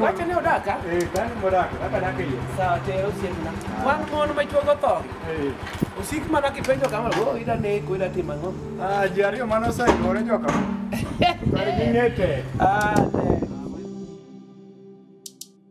Wacha ne odaka. Eh, kani modak, kaka dak e iye. Sawa te osiepna. Wan mon ma chuogo tho. Eh. Osik mana kipenjo kama, "Oh, ida neko, ida timo ang'o?" Ah, ji ariyo mane oseikore joka. Kar ging'ete. Ah, te.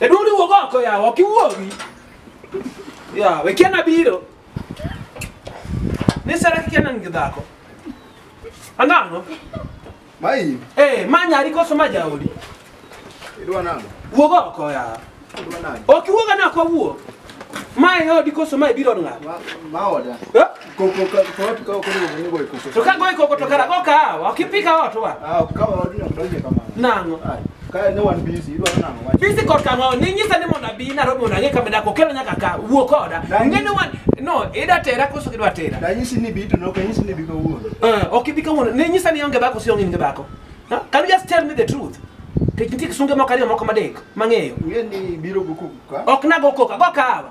Jaduong' ni wuog oko yawa, ok iwuogi. Yawa, we kiana biro. Ni sara kikiana nigi dhako. Anang'o? Mai, Eh, ma nyari koso ma jaodi. idwa nang'o? Wuog oko yawa. Idwa nang'o? Ok iwuoga na kwa wuok. Ma e odi koso ma ibiro ng'ato. Ma, ma oda. Eh? Koko ka to watu kao kule mwenye boy koko. To ka goyi koko to kara go kahawa, kipika watu wa. Ah, kama watu wanadonje kama. Nango. Ah, Kaya no one busy, you are nango. Wacha. Bisi kod kama ni nyisa ni mondo abi Nairobi mondo ang'e kama dako kelo nyaka ka wuo koda. Danyisi- Ng'eni wan no ida tera koso kidwa tera. Da nyisi ni bitu no, kanyisi ni biko wuon. Eh, ok ibi kawuono. Ni nyisa ni onge bako si onge inge bako. Huh? Can you just tell me the truth? Kech nitie kisunge moko ariyo moko madek mang'eyo. Ngeni biro buku ka. Ok nago koka, go kahawa.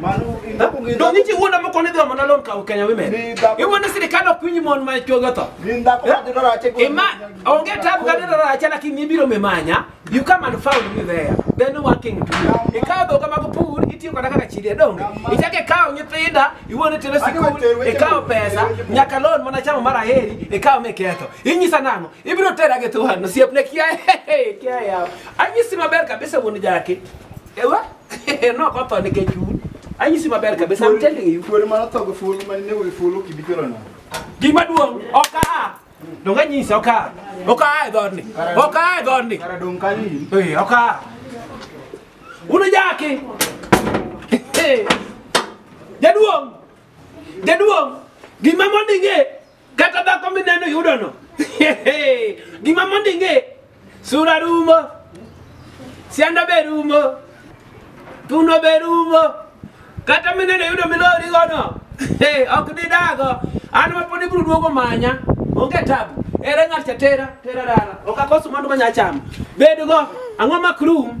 Mano in dhaku gi Donge chi wuoda moko ni dhoma nalon kawo Kenya women. Ni dhako- Iwuoda sirikal ok winj mon ma chuogi otho. Gin dhako ma dhi dwaro ache go. Ima onge tabu ka dira racha lakini ibiro mimanya. You come and found me there. Then no one king to you. Ikawo dhoga mag pur itiyo koda kaka chiri donge. Ichak ikawo nyithinda iwuone tero sikul ikawo pesa nyaka loan mana chamo mar aheri ikawo miketho. Inyisa nang'o? Ibiro tera gi thuhan osiepne kia kia yawo. Anyisi maber kabisa wuon jaki. Ewa no ko to nikech un anyisi maber kabisa I'm telling you Kuore mano tho gi fulu mane nego gi fulu ok ibi kelo nang'o? gima duong' ok aa donge anyisi ok aa ok aa e dhoodni ok aa e dhoodni Kara dong' kanyo in. Eh, ok aa unujaki Eh, jaduong' jaduong' gima mondo ing'e kata dhako mineno yudono gima mondo ing'e sura rumo sianda be rumo thuno be rumo kata mineno yudo milorigono ok didago an mapod ibiro duogo manya onge tabu ere ng'at cha tera tera dala ok akoso mwandu manya chamo bedgo ang'o mak rum